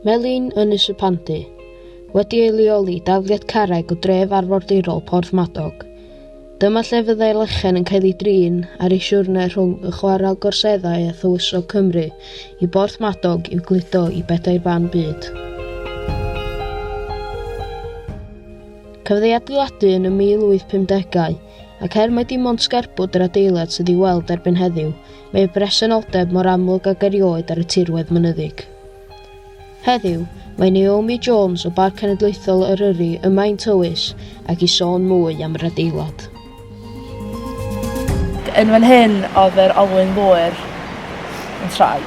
Melin Ynys y Pandy, wedi ei leoli dafliad carreg o dref arfordirol Porth Madog. Dyma lle fyddai lechen yn cael ei drin ar ei siwrne rhwng y chwarel gorseddau a thywysog Cymru i Borth Madog i'w gludo i bedair ban byd. Cafodd ei adeiladu yn y 1850au, ac er mai dim ond sgerbwd yr adeilad sydd i'w weld erbyn heddiw, Mae y bresenoldeb mor amlwg ag erioed ar y tirwedd mynyddig. Heddiw, mae Naomi Jones o Barc Cenedlaethol Eryri yma i'n tywys ac i sôn mwy am yr adeilad. Yn fan hyn oedd yr olwyn ddŵr yn troi.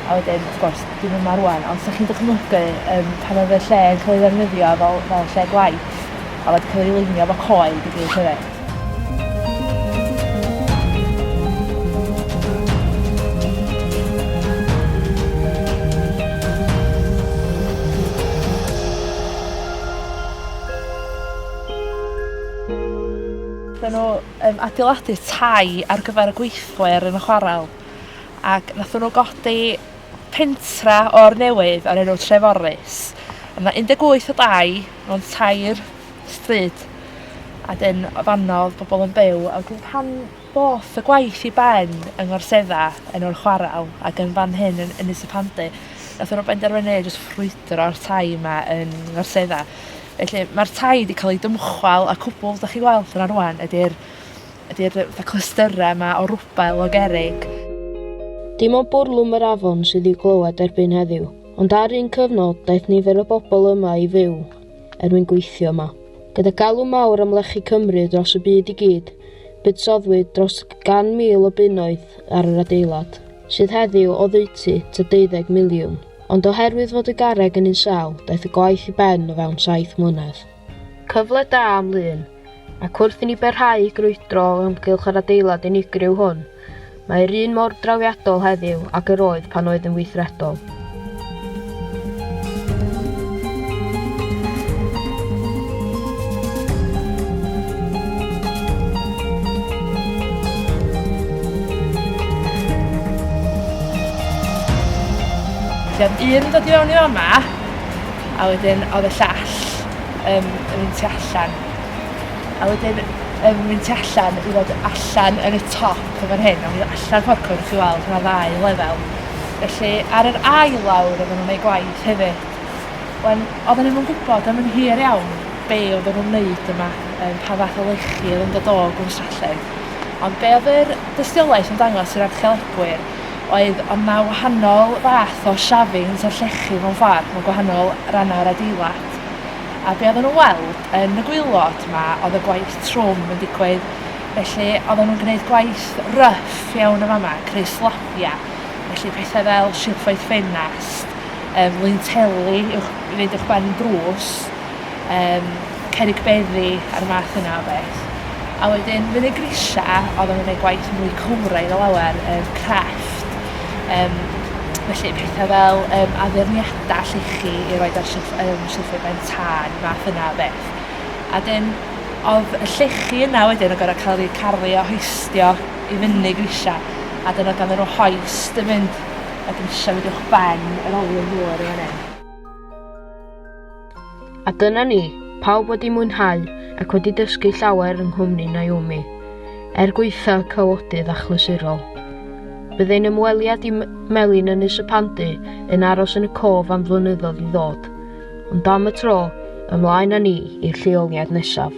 A wedyn, wrth gwrs, dim yma rwan, ond sa'ch chi'n dychmygu um, pan oedd y lle yn cael ei ddefnyddio fel, fel lle gwaith, a wedi cael ei lunio fo coed i gyd hefyd. Wnaethon nhw um, adeiladu tai ar gyfer y gweithwyr yn y chwarel ac wnaethon nhw godi pentra o'r newydd ar enw Treforus. Yna 18 o dai mewn tair stryd a 'dyn o fanno odd pobol yn byw a wedyn pan ddoth y gwaith i ben yng Ngorsedda yn o'r chwarel ac yn fan hyn yn Ynys y Pandy nath nhw benderfynu jyst ffrwydro'r tai 'ma yn Ngorsedda. Felly ma'r tai 'di ca'l 'u dymchwel a cwbwl 'dach chi weld yna rŵan ydi'r ydi'r yy fatha clystyre 'ma o rwbel o gerrig. Dim ond bwrlwm yr afon sydd i'w glywed erbyn heddiw, ond ar un cyfnod daeth nifer o bobol yma i fyw er mwyn gweithio yma. Gyda galw mawr am lechi Cymru dros y byd i gyd, buddsoddwyd dros gan mil o bunnoedd ar yr adeilad, sydd heddiw oddeutu ta deuddeg miliwn. Ond oherwydd fod y garreg yn un sâl, daeth y gwaith i ben o fewn saith mlynedd. Cyfle da am Lŷn. Ac wrth i ni barhau i grwydro o amgylch yr adeilad unigryw hwn, mae yr un mor drawiadol heddiw ag yr oedd pan oedd yn weithredol. Felly oedd un yn dod i fewn i fama a wedyn oedd y llall. um, yn mynd tu allan. A wedyn um, mynd tu allan i fod allan yn y top o fan hyn, a mynd allan ffordd cwrdd chi weld, yna ddau lefel. Felly ar yr ail lawr oedden nhw'n gwneud gwaith hefyd. Wen, oedden nhw'n gwybod am yn hir iawn be oedd nhw'n wneud yma, um, pa fath o lechi oedd yn dod o gwn Stralledd. Ond be oedd yr dystiolaeth yn dangos i'r archeolegwyr oedd ond na wahanol fath o shavings o'r llechi mewn ffordd, mewn gwahanol rannau'r adeilad. gwaelod. A be' oddan nhw'n weld yn y gwaelod 'ma oedd y gwaith trwm yn digwydd. Felly oedden nhw'n gwneud gwaith rough iawn yn fama, creu slabiau, felly pethau fel silffoedd ffenast, um, linteli i'w wneud eich barn drws, um, cerig beddi a'r math yna o beth. A wedyn fyny grisia, oedden nhw'n gwneud gwaith mwy cywraidd o lawer, um, crefft, um, felly pethau fel um, addurniadau dall ichi i roed ar shelf, um, shelfie ben tân, math yna o beth. A dyn, oedd y llechi yna wedyn o gorau cael ei carlu a hoistio i fyny grisiau, a dyn oedd gan nhw hoist yn mynd y grisiau wedi o'ch ben yr olion ddŵr yn fan hyn. A dyna ni, pawb wedi mwynhau ac wedi dysgu llawer yng nghwmni Naomi, er gwaetha cawodydd achlysurol. Bydd ein ymweliad i Melin Ynys y Pandy yn aros yn y cof am flynyddoedd i ddod, ond am y tro, ymlaen â ni i'r lleoliad nesaf.